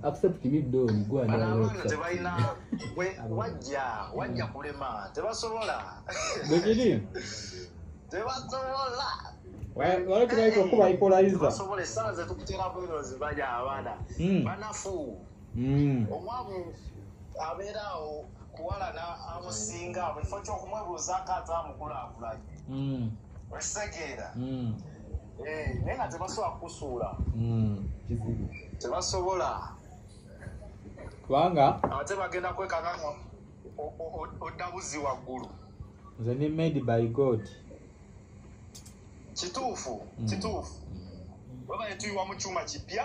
accept me don gwanabantu tebalina wajja wajja kulema tebasobola bwekiri tebasobola walekiraika okuba ikolaiza esanze tukutera bwerozi baja abaana hmm. banafu hmm. omwavu abeeraawo kuwalana amusinga buli kifo kyokumwebuuzaako ate amukulakulanye hmm. okitegeera Eh, naye nga tebasobola kukusuula hmm, tebasobola kubanga ate bagenda kwekanga nga odda buzzi waggulu nze ni made by god kituufu hmm. kituufu webaye tuyiwa mu kyuma kipya